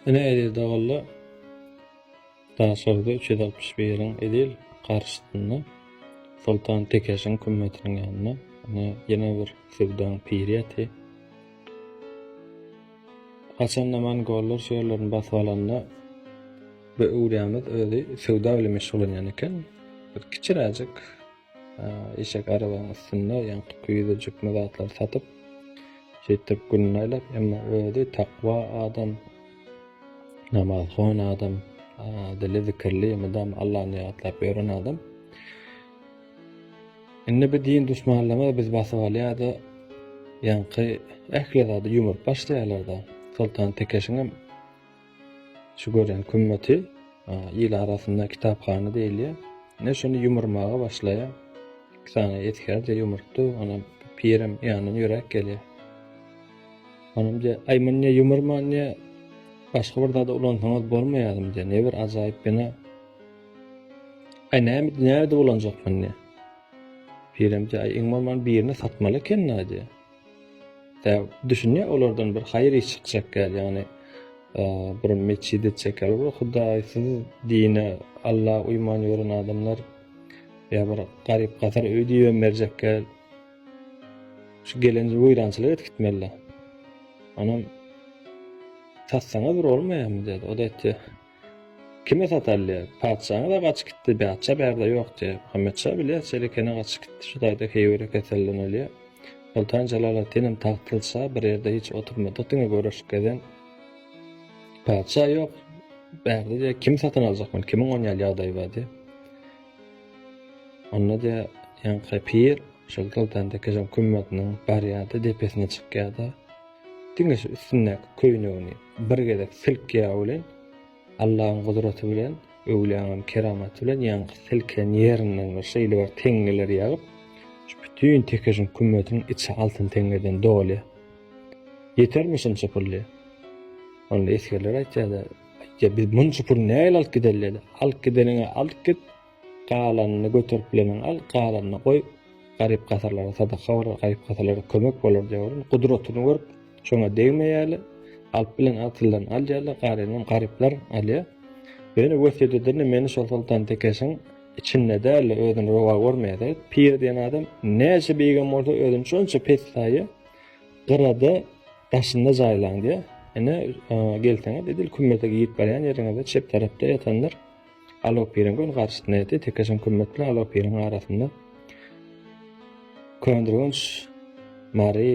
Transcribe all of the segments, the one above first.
Ine edil dagylda Daşoguzda üç ýüz altmyş biriň edil garşysynda Soltan Tekeşiň kümmetiniň ýanynda ine ýene bir söwdaň piri ýaty. Haçanda mongollar şu ýerlerini basyp alanda bu öwrýämiz özi söwda bilen meşgullanýan eken. Bir kiçiräjik Eşek arabanyň üstünde ýaňky küýze jikme zatlary satyp, şeýtdirip gününi aýlap, emma özi takwa adam, namazhon adam, dili zikirli, mydam Allany ýatlap ýören adam. Indi bu din duşmanlama biz basyp alýar-da, ýaňky ähli zady ýumuryp başlaýarlar-da. Soltan Tekeşiňem Şu gören kümmeti il arasynda kitaphana diýilýär. Ne şony ýumurmaga başlaýar. Iki sany esgerje ýumurtdy, onam pirem ýanyna ýöräp gelýär. Onam diýär, aý muny ne ýumurma, ne başga bir zada ulansaňyz bolmaýarmy diýär. Ne bir ajaýyp bina. Aý näme näde ulanjak muny? Pirem diýär, aý iň bolman birini satmaly ekeni diýär. Däw düşünýär, olardan bir haýyr iş çykjak ýaly, ýagny bir metjit etjek ýaly, bir hudaýsyz dine, Alla uýman ýören adamlar ýa bir garyp-gasar öý diýibem berjek ýaly, şu gelenji weýrançylyk edip gitmeli-dä. Onam tassana bir bolmaýarmy diýýärdi. O-da aýtýar. Kime satalýa? Patyşaňyz-a gaçyp gitdi, Bätjä bärde ýok diýýä. Muhammet şa bilýä, Çelekene gaçyp gitdi, şu taýda heýwere kesellenilýä. Soltan Jelaleddinem tagtlydy şa, bir ýerde hiç oturmadyk, diňe göreşip gezen. Patyşa ýok, bärde diýýä, kim satyn aljak muny, kimiň on ýaly ýagdaýy bar diýýä. Onda diýýä, ýaňky pir, şol Soltan Tekejan kümmetiniň barýa-da, depesine çykýa-da, Diňe şu üstündäki köýnegini bir gezek silk ýagy bilen, Allahyň gudraty bilen, öwlüýäňem keramaty bilen ýaňky silken ýerinden bir şeýle bir teňňeler ýagyp, şu bütin tekejiň kümmetiniň içi altyn teňňeden dolýar. Ýetermi şunça pul diýip. Onda esgerler aýtýar-da, aýtýar, biz munça puly nähili alyp gidelideli? Alyp gideniňe alyp git, Galanyny göterip bilenem al, galanyny goý, garyp-gasarlara sadaka bolar, garyp-gasarlara kömek bolar diýip onuň gudratyny görüp, şoňa degmeýärler. Alyp bilen agtyldan alýarlar, galanynam garyplar alýar. Ýöne wesýet ederini meni şol soltan tekeşiň içinde däl-de özüni rowa görmeýärdi. Pir diýen adam näçe beýigem bolsa özüni şonça pes saýýar. Gyrada daşynda jaýlaň diýýär. Ine, gelseňiz edil kümmete girip barýan ýeriňizde çep tarapda ýatandyr. Alopyryň göni garşyt neti tekeşiň kümmet bilen alopyryň arasynda köndürgenç mary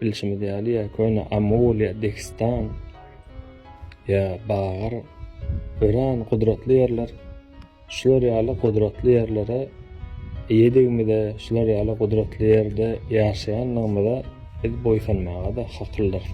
bilşimiz ýaly ýa köne amul ýa dehistan ýa bagar öran gudratly ýerler şular ýaly gudratly ýerlere eýedigimize şular ýaly gudratly ýerde ýaşaýanlygymyza biz boýsanmaga-da hakyldyrys.